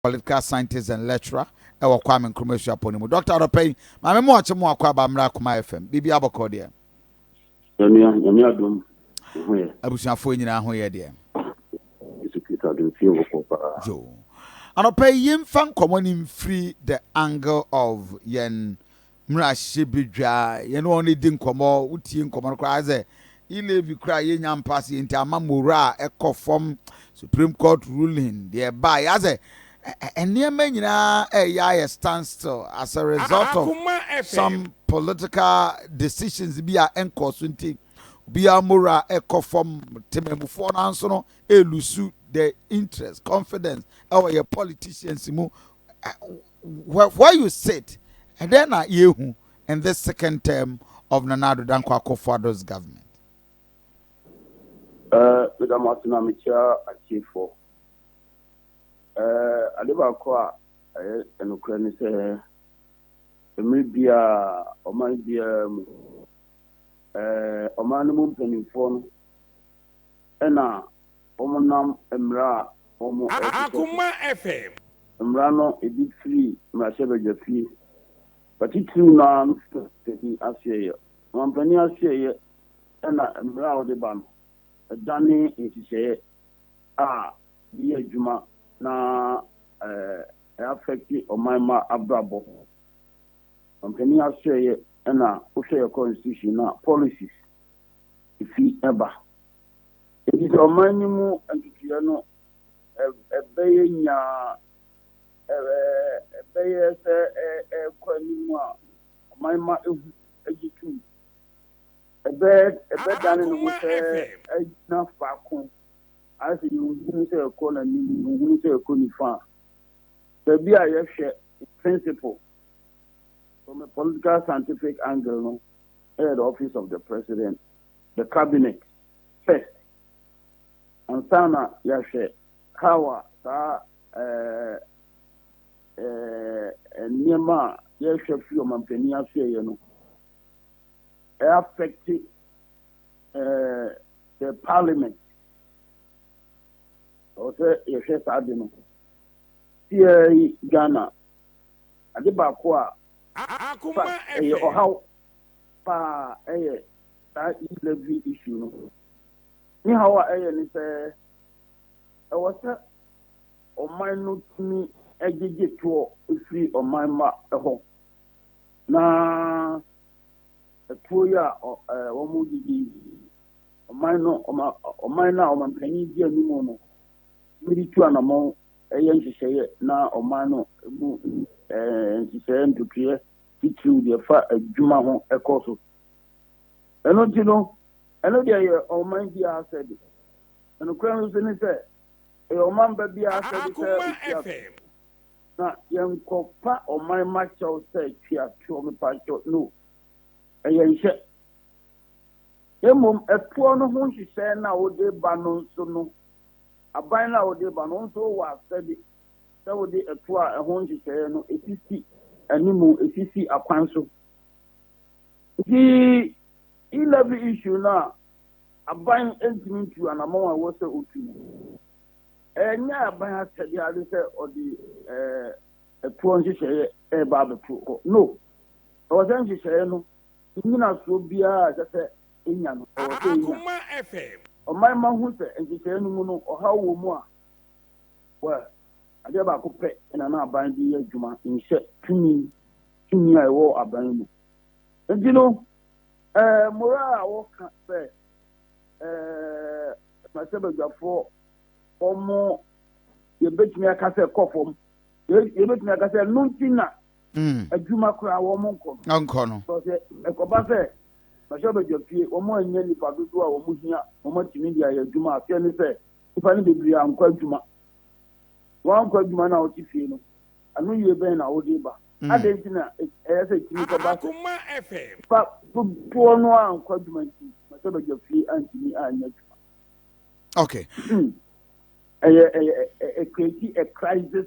political scientist and lecturer wɔ Kwame Nkrumah Suapɔn no mu. Doctor anɔpa yi, Maame Moakye mo akɔ aba mmra Kumah FM. Biribiara bɔkɔɔ deɛ? Yɛn nua, Nyame adom, wo ho yɛ? Abusuafoɔ nyinaa ho yɛ deɛ? Yesu Kristo adom fie bɔkɔɔ paa. Yo. Anɔpa yi, yɛmfa nkɔmmɔ no mfiri the angle of yɛn mmarahyɛ badwa a yɛne wɔn redi nkɔmmɔ, wotie nkɔmmɔ no koraa sɛ yi Levy koraa yɛnnya mpa aseɛ nti ama morale a ɛkɔ fam, Supreme Court ruling deɛ ɛbaa yɛ asɛ nneɛma nyinaa ɛreyɛ ayɛ stand still as a result of some political decisions bi a ɛnkɔɔ so nti obiara morale ɛkɔ fam, temamufoɔ no nso no ɛlusu the interest, confidence ɛwɔ yɛ politicians mu. where you sit, ɛdɛn na yɛhu in this second term of Nana Addo Dankwa Akufo-Addo's government? Uh, meda mo ase na mekyia atiefoɔ. Uh, ade baako a ɛyɛ ɛnokorɛ ne sɛ mmerɛ biara ɔman biara mu uh, ɔman no mu mpanimfoɔ no na wɔnam mmara a wɔhyehyɛ so. Mmara no bi firi mmarahyɛbadwafie, atitiriw no ara no so panyin asoɛeɛ. Ɔmanpanin asoɛeɛ na mmara a ɔde ba no dane nhyehyɛeɛ a ɛyɛ adwuma na ɛafɛkte ɔman mma abrabɔ. Ɔmanpanin asoɛeɛ na wohwɛ yɛn constitution no a, policies. efi ba. Enti sɛ ɔman no mu ntotoeɛ no bɛyɛ nyaa, ɛbɛyɛ sɛ ɛrekɔ anim a, ɔman ma ehu gye tom. Ɛbɛdane ne ho sɛ agyina faako, ayɛ sɛ yɛnhunu sɛ ɛrekɔ n'anim, yɛnhunu sɛ ɛrekɔ nifa. Baabi a yɛhwɛ principle from a political scientific angle no, ɛyɛ the office of the president, the cabinet first ansa na yɛahwɛ how a saa ɛɛ ɛɛ nneɛma a yɛhwɛ fi ɔmampanin ase yɛ no ɛyɛ affect ɛɛ eh, the parliament ɔsɛ yɛhwɛ saa de no tiɛ ghana ade baako a Akoma ɛhwɛ. Ɛyɛ ɔhaw paa ɛyɛ saa e-slavery issue no. Ne haw a ɛyɛ ne sɛ ɛwɔ sɛ ɔman no tumi gyegye toɔ firi ɔman mma hɔ na toɔ yi a wɔn gyegye yi ɔman no ɔman no a ɔmanpanin di anim no wɔde tu anamɔn yɛ nhyehyɛeɛ na ɔman no mu nhyehyɛeɛ ntotoeɛ titiriw deɛ ɛfa adwuma ho kɔ so. Ɛno nti no, ɛno deɛ yɛ ɔman biara asɛde. Nokorɛ no nso ne sɛ, ɛyɛ ɔman ba biara asɛde sɛ ɔtua toɔ. Na yɛnkɔfa ɔman mma kyɛw sɛ tua toɔ, mepaakyɛw, no. Ɛyɛ nhyɛ. Mmom ɛtoɔ no ho nhyehyɛɛ no a wode reba no nso no, aban no a wode reba no, wo nso wowɔ asɛde sɛ wode ɛtoɔ a ɛho nhyehyɛɛ no sisi animu, sisi akwan so. Nti E-levy issue no a aban ntumi ntu anamɔn a ɛwɔ sɛ ɔtu no, ɛnyɛ aban asɛdeɛ ara de sɛ ɔde ɛtoɔ nhyehyɛɛ reba abɛto hɔ. No. Ɛwɔ sɛ nhyehyɛɛ no Nnyinasoɔ biara a ɛsɛ sɛ ɛnya no, ɛwɔ sɛ ɛnya. Ɔman mma hu sɛ nhyehyɛeɛ no mu no, ɔhaw wɔ mu a, well, adeɛ baako pɛ na na aban de yɛ adwuma, nhyɛ tumi, tumi a ɛwɔ aban mu. Nti no, eh, mmorɔ a wɔka sɛ, eh, mmarahyɛbadwafoɔ, wɔn yɛbɛtumi aka sɛ kɔ fam, yɛbɛtumi aka sɛ ɛno nti na adwuma koraa wɔn nkɔ no. Nkɔ no. Sɛ sɛ ɛkɔba sɛ bɛhyɛ bɛdwa fie, wɔn annya nipa dodoɔ a wɔn hia wɔn atumi de ayɛ adwuma. Aseɛ ne sɛ nipa no bebree ankɔ adwuma. Wɔn ankɔ adwuma na wɔte fie no, ano yie bɛn na wɔde ba? Adɛn nti na ɛyɛ sɛ ɛtumi kɔba sɛ nipa dodoɔ no a ankɔ adwuma nti bɛhyɛ bɛdwa fie antumi annya adwuma? Okay. Hmm. A, a, a, a crazy, a crisis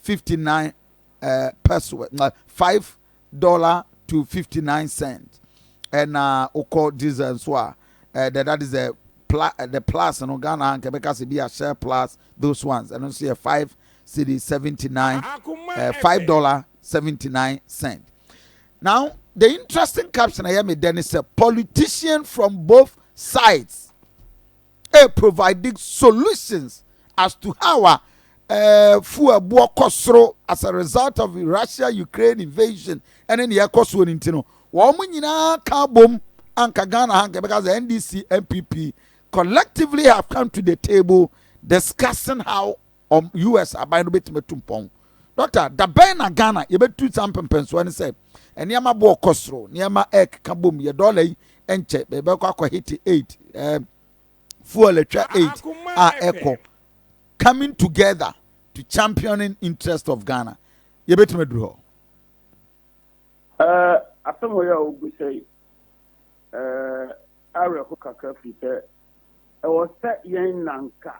fifty nine eh, peso na five dollar to fifty nine cent ɛna wokɔ diesel nso a eh, the, that is the, pla, eh, the plus no ghana ha nka bɛka sɛ bi a share plus those ones ɛno nso yɛ five cedi seventy nine eh, five dollar seventy nine cent now the interesting caption ɛyɛ me dɛ ne sɛ politician from both sides. e providing solutions as to how a eh, fuel boɔ kɔ soro as a result of russia ukraine invasion ɛne deɛ ɛkɔ soɔ no nti no wɔn nyinaa ka bom anka ghana ha nka ɛbɛka sɛ ndc npp collectively have come to the table discussing how ɔm US aban no bɛtumi atu mpɔn. Doctor, da bɛn na Ghana yɛbɛtu saa mpɛmpɛnsoɔ no sɛ nneɛma bo rekɔ soro, nneɛma ɛrekeka bom, yɛ dɔla yi nkyɛ, bɛbɛkɔ akɔ hete aid, ɛɛ fuel atwa aid a ɛkɔ coming together to championing interest of Ghana. Yɛbɛtumi aduru hɔ. Uh, asɛm wɔ yɛ a wobu sɛ yi uh, awerɛho kakra firi sɛ ɛwɔ sɛ yɛn nanka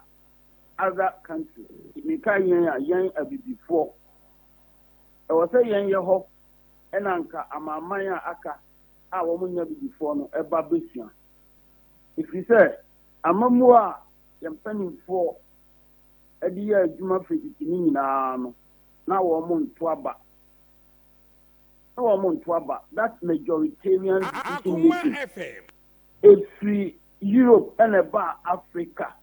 other country. Mekae yɛn a yɛn abibifoɔ ɛwɔ sɛ yɛn yɛ hɔ ɛna anka amanaman a aka a wɔn nyɛ abibifoɔ no ɛba bɛsua. Ɛfiri sɛ amammuo a yɛn mpanimfoɔ ɛde yɛɛ adwuma firi tete no nyinaa no na wɔn nto aba. Na wɔn nto aba that majoritarian decision making ɛfiri Europe ɛna ɛbaa Africa.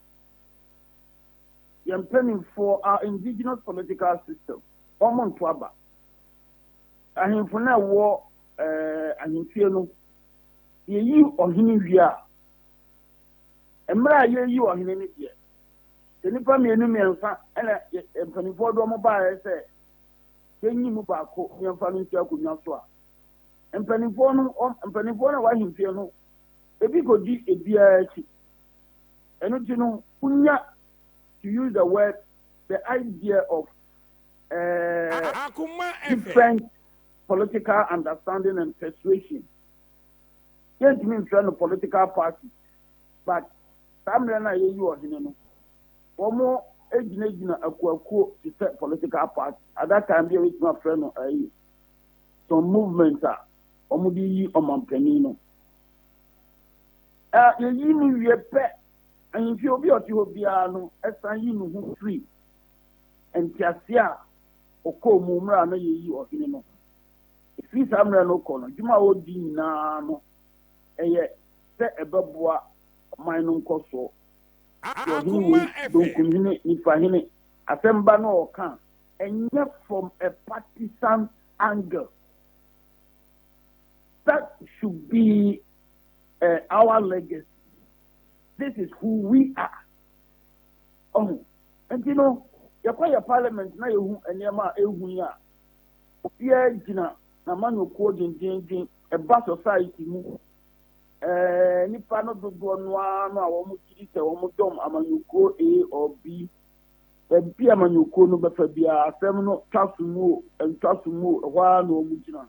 Yɛn mpaninfoɔ are indigenous political system, wɔn nto aba. Ahemfo no a ɛwɔ eh, ahemfie no, yɛyi ɔhene wie a, mmerɛ a yɛyi ɔhene no deɛ, sɛ nnipa mmienu mmiɛnsa ɛna mpaninfoɔ de wɔn baeɛ sɛ yɛnyi mu baako yɛmfa no nsi akonnwa so a, mpaninfoɔ no, mpaninfoɔ no a wɔ ahemfie no, ebi kɔdi ebiara akyi. Ɛno nti no, wonya, to use the word, the idea of eh, different political understanding and persuasion. Yɛntumi mfrɛ no political party, but saa mmerɛ no a yɛyi ɔhene no, wɔn gyinagyina akuakuo te sɛ political party. At that time bi a yɛtumi afrɛ no ayi, some movement a wɔn de yi ɔmampanin no. A Yeyi no wie pɛ, ahemfie obi a ɔte hɔ biara no san yi ne ho firi ntease a ɔkɔɔ mu mmerɛ a na yɛreyi ɔhene no ho. Ɛfiri saa mmerɛ no rekɔ no, adwuma a ɔredi nyina ara no, ɛyɛ sɛ ɛbɛboa ɔman no nkɔsoɔ. Deɛ ɔhene wei, benkumhene, nifahene, asɛm ba no a ɔka a, ɛnyɛ from a partisan angle. That should be. eh, our legacy this is who we are ɔho nti no yɛkɔ yɛ parliament na yɛhu nneɛma a ɛhu yi a obiara gyina n'amanyɔkuo dwendwendwen ɛba society mu eh, nipa no dodoɔ no ara no a wɔn gyiri sɛ wɔn dɔm amanyɔkuo a or b baabi amanyɔkuo no bɛfa biara asɛm no twa so mu o ntwa so mu o ɛhɔ ara na wɔn gyina.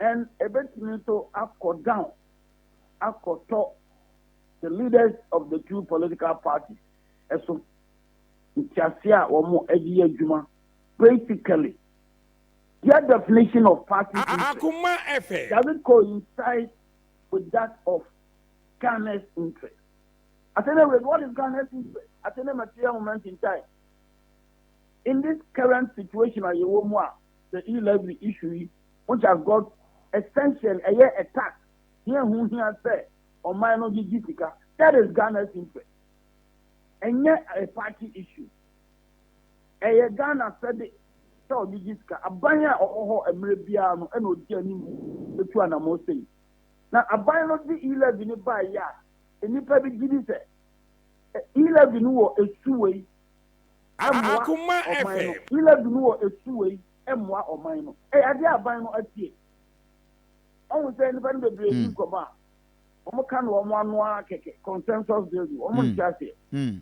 and ebetumi nso akɔ down akɔtɔ the leaders of the two political parties ɛso. Ntease a wɔn ɛde yɛ adwuma basically their definition of party interest doesn't coincide with that of Ghana's interest. Atene with what is Ghana's interest? Atene material moment in time. In this current situation, I the e-levy issue Ho Just got extension ɛyɛ a tax he ɛho hia sɛ ɔman no gyegye sika that is Ghana's interest ɛnyɛ a party issue ɛyɛ Ghana asɛde sɛ ɔgyegye sika aban a ɔwɔ hɔ mmerɛ biara no ɛna ɔdi anim ɛtu anamɔ sei na aban no de e-levy no bae yɛ a nnipa bi gyidi sɛ e-levy no wɔ ɛsu wei ɛmmoa ɔman no e-levy no wɔ ɛsu wei mmoa ɔman no. Ɛyɛ adeɛ a aban no atie. Ɔhu sɛ nnipa no bebree di hmm. nkɔmmɔ a, wɔn ka no wɔn ano ara kɛkɛ, consensus building, wɔn hmm. nte aseɛ. Hmm.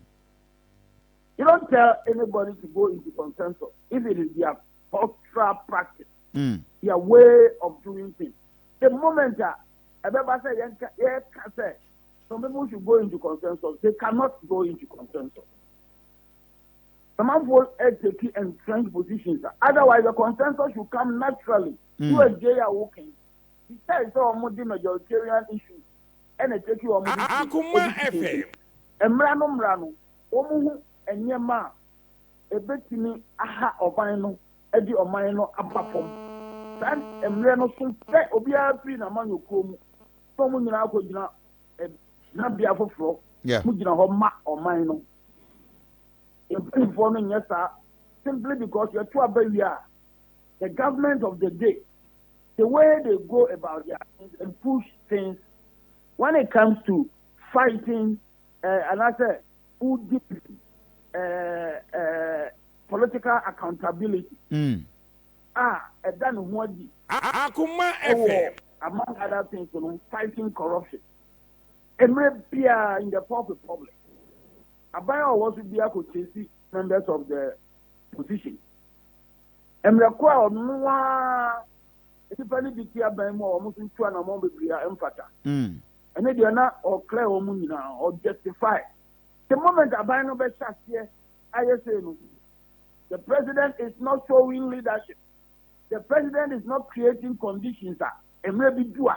You don't tell anybody to go into consensus if it is their cultural practice, mm. their way of doing things. The moment that everybody say, yeah, can say, some people should go into consensus, they cannot go into consensus. some amfo ɛteki entrenched positions a otherwise the consensus should come naturally through a gay a woken besides sɛ wɔn de majoritarian issues ɛna ɛteki wɔn decisions mmra no mmra no wɔn ho nneɛma a ɛbɛtumi aha ɔban no ɛde ɔman no aba fam saa mmerɛ no so sɛ obiara firi n'amanyɔkuo mu sɛ wɔn nyinaa akɔgyina gyinabea foforɔ mu gyina hɔ ma ɔman no Yɛn mpanyinfoɔ no nyɛ saa simply because yɛto aba wie a the government of the day the way they go about their things and push things when it comes to fighting uh, and I say udipin uh, uh, political accountability mm. ah and then what di akuma fm among other things you know fighting corruption Mmerɛ biara in the Fourth Republic, aban a ɔwɔ so biara kɔ chase members of the opposition. Mmerɛ koro a ɔno ara nnipa no bi te aban mu a wɔn nso ntu anamɔn bebree a ɛmfata. Mm. Ɛne deɛ na ɔclear wɔn nyinaa, ɔjustify. The moment aban no bɛhyɛ aseɛ ayɛ sei no, the president is not showing leadership. The president is not creating conditions a mmerɛ bi du a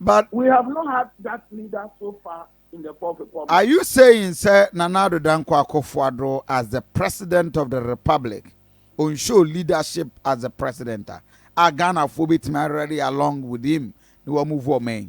but we have not had that leader so far in the fourth republic. are you saying sɛ nana ado dankwa akufo-addo as the president of the republic on show leadership as the president a a ghanafoɔ bɛtumi already along with him na wɔn mu voɔ mɛn.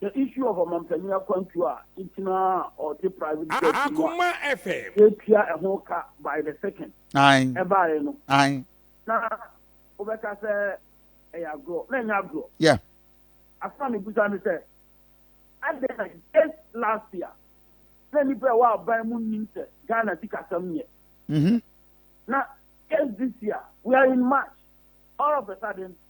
The issue of Ɔmanpanyin akwantuo a ntina a ɔte private jet mu a Akoma FM. yɛtua ɛho ka by the second Ae. ɛbaeɛ no, Ae. na wobɛka sɛ ɛyɛ agorɔ. Na ɛnyɛ agorɔ. Yeah. Asɛm a mebisa ne sɛ, adɛn na just last year na nnipa a ɛwɔ aban mu nnim sɛ Ghana sikasɛm nyɛ? Mhm. Na just this year, we are in March, all of a sudden,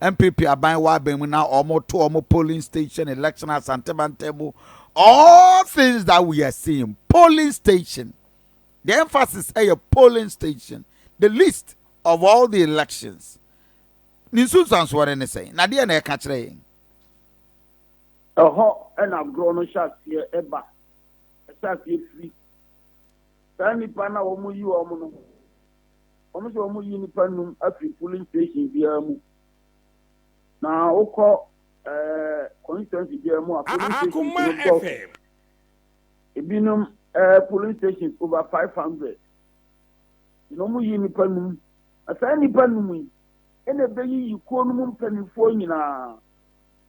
NPP aban wɔ aban mu na ɔmo to ɔmo polling station election asante mantam mu all things that we are seeing polling station the emphasis ɛyɛ polling station the list of all the elections ne nsunsuansoɔ no ne sɛn na deɛ na ɛka kyerɛ yɛn. ɛhɔ ɛna agorɔ no hyɛ aseɛ ɛba ɛhyɛ aseɛ firi saa nipa na wɔn yi wɔn no. wɔn sɛ wɔn yi nipa num afiri polling station biara mu na wokɔ ɛɛ constituency biara mu a polling station no dɔɔso ebinom ɛɛ eh, polling station over five hundred na wɔn yi nipa num na saa nipa num yi ɛna ebeyi yi kuo no mu mpanimfoɔ nyinaa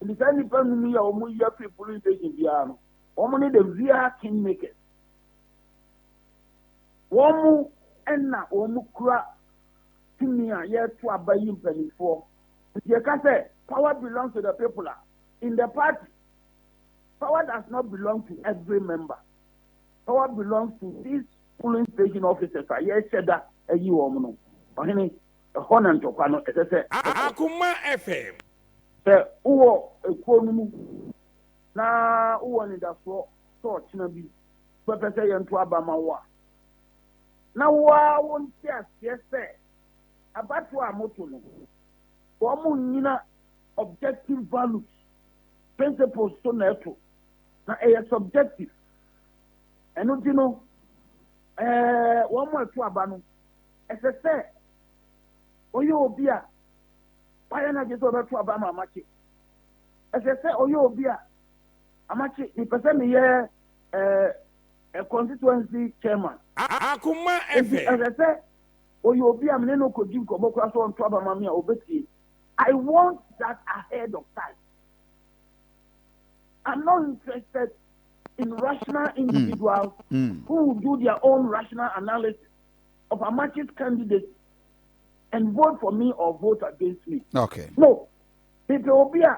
nti saa nipa num yi a wɔn yi afiri polling station biara no wɔn ne the real king makers. Wɔn na wɔn kura tumi a yɛreto aba yi mpaninfoɔ nti yɛka sɛ power belongs to the people a in the party power does not belong to every member power belongs to these polling station officers a yɛrehyɛ da ayi wɔn no ɔhene ɛhɔ na ntɔkwa no ɛsɛ sɛ. Akoma FM. Sɛ wowɔ ekuo no mu na wowɔ anidasoɔ sɛ ɔkyena bi Wobɛpɛ sɛ yɛnto aba ma wo a, na wo ara wonte aseɛ sɛ abatoɔ a moto no, wɔnnyina objective values, principles, so na ɛto, na ɛyɛ subjective. Ɛno nti no, eh, wɔn a ɛto aba no, ɛsɛ sɛ ɔyɛ obi a wayɛ no agye sɛ ɔbɛto aba ma amakye. Ɛsɛ sɛ ɔyɛ obi a amakye, mepɛ sɛ meyɛ ɛɛ constituency chairman. Akoma ɛfɛ. Nti ɛsɛ sɛ oyɛ obi a me ne no kɔdi nkɔmmɔ koraa sɛ ɔnto aba ma me a ɔbɛtie. I want that ahead of time. I'm not interested in rational hmm. individuals mm. Mm. who will do their own rational analysis of Amachi's candidacy and vote for me or vote against me. Okay. No. People will be a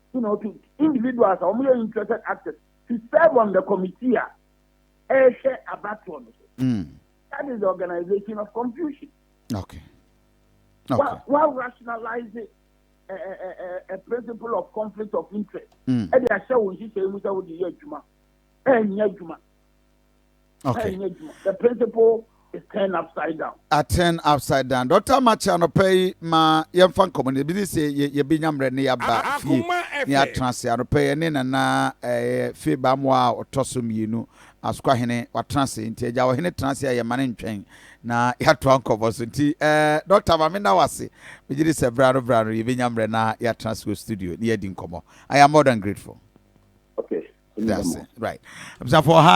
you know, to individuals a wɔyɛ interested actors to serve on the committee a ɛrehwɛ abatoɔ no so. Mm. That is the organization of confusion. Okay. okay. While, while rationalizing a, a, a, principle of conflict of interest, ɛde ahyɛ wɔn nhyehyɛ mu sɛ wɔde yɛ adwuma, ɛnyɛ adwuma. Okay. The principle is turned upside down. I turn upside down. Dr. Macha no pay ma yɛn fa nkɔmɔ ne bi de sɛ yɛ yɛ bi nyamrɛ ne yaba fie ne atena se ano pɛ ne nana ɛɛ fie bamoa a ɔtɔ so mmienu asukwa hene watena se nti ɛgya wɔ hene tena se a yɛ ma ne ntwɛn na yɛatoa nkɔmɔ so nti ɛɛ dɔkta ma me na wase megye de sɛ bra no bra no yɛ bi nyamrɛ na yɛatena se wɔ studio ne yɛadi nkɔmɔ I am more than grateful. Okay. That's it. Right. Abusuafo ha